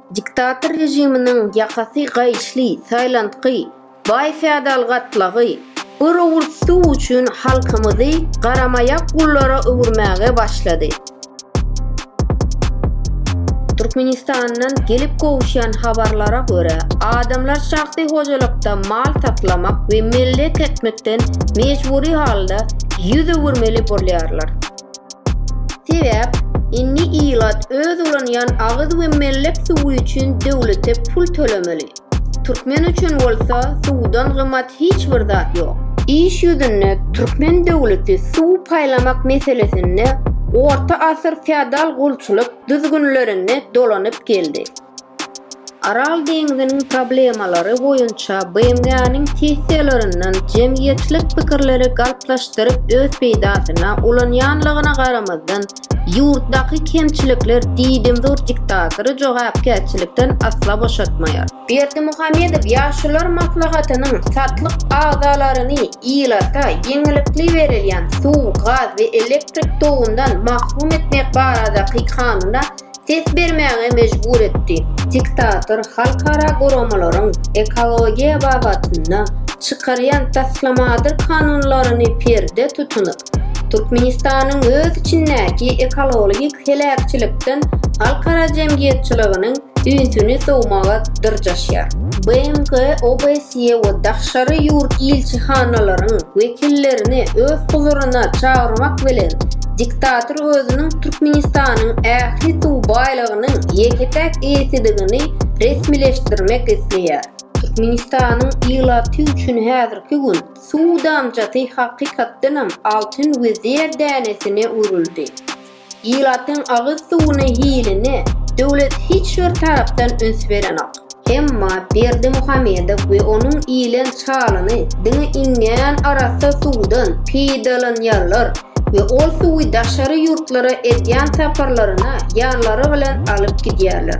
Diktator režiminiň ýakasy gaýyşly Taýlandky baý feodal gatlagy bir owurt suw üçin halkymyzy garamaýak gullara öwürmäge başlady. Türkmenistandan gelip gowuşýan habarlara görä, adamlar şahsy hojalykda mal saklamak we mellek ekmekden mejbury halda ýüz öwürmeli bolýarlar. Sebäp, indi ilat öz ulanýan agyz we mellek suwy üçin döwlete pul tölemeli. Türkmen üçin bolsa suwdan gymmat hiç bir zat ýok. Iş ýüzünde türkmen döwleti suw paýlamak meselesinde orta asyr feodal gulçulyk düzgünlerinde dolanyp geldi. Aral deňziniň problemalary boýunça BMG-niň sessiýalaryndan jemgyýetçilik pikirleri galplaşdyryp öz peýdasyna ulanýanlygyna garamazdan, ýurtdaky kemçilikler diýdimzor diktatory jogapkärçilikden asla boşatmaýar. Berdimuhamedow Ýaşulylar maslahatynyň satlyk agzalaryny ilata ýeňillikli berilýän suw, gaz we elektrik togyndan mahrum etmek baradaky kanuna ses bermäge mejbur etdi. Diktator halkara guramalaryň ekologiýa babatynda çykarýan taslamadyr kanunlaryny perde tutunyp, Türkmenistanyň öz içindäki ekologik heläkçilikden halkara jemgyýetçiliginiň ünsüni sowmaga dyrjaşýar. BMG OBS Russiýa we daşary ýurt ilçihanalaryň wekillerini öz huzuryna çagyrmak bilen, diktator özüniň Türkmenistanyň ähli suw baýlygynyň ýeke-täk eýesidigini resmileşdirmek isleýär. Türkmenistanyň ilaty üçin häzirki gün suw damjasy hakykatdanam altyn we zer dänesine öwrüldi. Ilatyň agyz suwuny hiline döwlet hiç bir tarapdan üns berenok. Emma Berdimuhamedow we onuň ilen çalyny diňe iňňän arassa suwdan peýdalanýarlar we ol suwy daşary ýurtlara edýän saparlaryna ýanlary bilen alyp gidýärler.